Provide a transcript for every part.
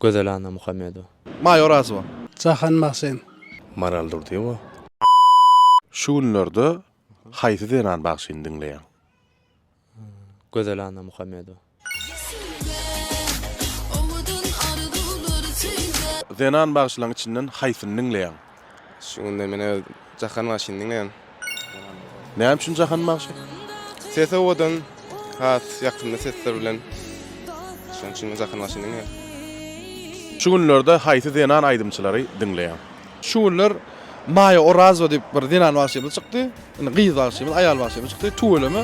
Gözel Annamuhammedowa. Maýa Orazowa. Jahan Magsen. Maral Durdyýewa. Şu günlerde haýsy zenan bagşyny diňleýäň? Gözel Annamuhammedowa. Zenan bagşylaryň içinden haýsyny diňleýäň? Şu günler men öz Jahan bagşyny diňleýän. Näme üçin Jahan bagşy? Sesi owadan, has ýakymly sesler bilen. Şonuň üçin men Jahan bagşyny diňleýän. Şu günlerde haýsy zenan aýdymçylary diňleýäň? Şu günler Maýa Orazowa diýip bir zenan bagşymyz çykdy. Indi gyz bagşymyz, aýal bagşymyz çykdy. Tüweleme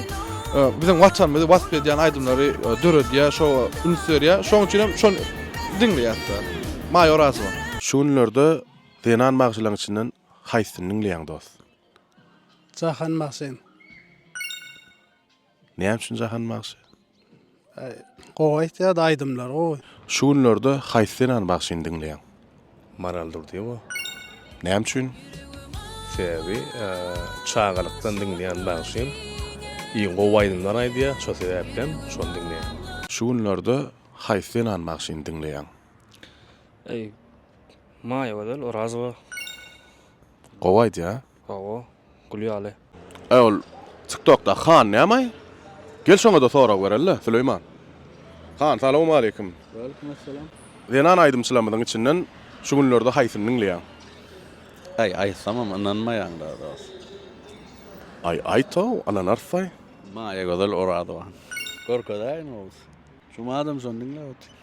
biziň watanymyzy wasp edýän aýdymlary döredýär, şo üns berýär. Şonuň üçin hem şony diňleýäs-de. Maýa Orazowa. Şu günlerde Zenan bagşylaň içinden haýsyny diňleýäň dost? Jahan bagşyny. Näme üçin Jahan bagşy? Gowy aýtýar-da aýdymlary gowy. Şu günlerde haýsy zenan bagşyny diňleýäň? Maral Durdyýewa. Näme üçin? Sebäbi çagalykdan diňleýän bagşym. Iň gowy aýdymlar aýdýar, şo sebäpden şony diňleýän. Şu günlerde haýsy zenan bagşyny diňleýäň? Maýagözel Orazowa. Gowy aýdýa. Hawa, gül ýaly. Äý ol tiktokdaky han nämaý? Gel şoňada sorag bereli-de, Süleýman. Han, salawmaleýkim. Waleýkim essalam. Zenan aýdymçylarymyzyň içinden şu günlerde haýsyny diňleýäň? Aý, aýtsamam ynanmaýaň-da dost. Aý, aýt-ow, ynanarys-aý. Maýagözel Orazowa. Görkezäýiň Oguz. Şu madam şony diňläp otyr.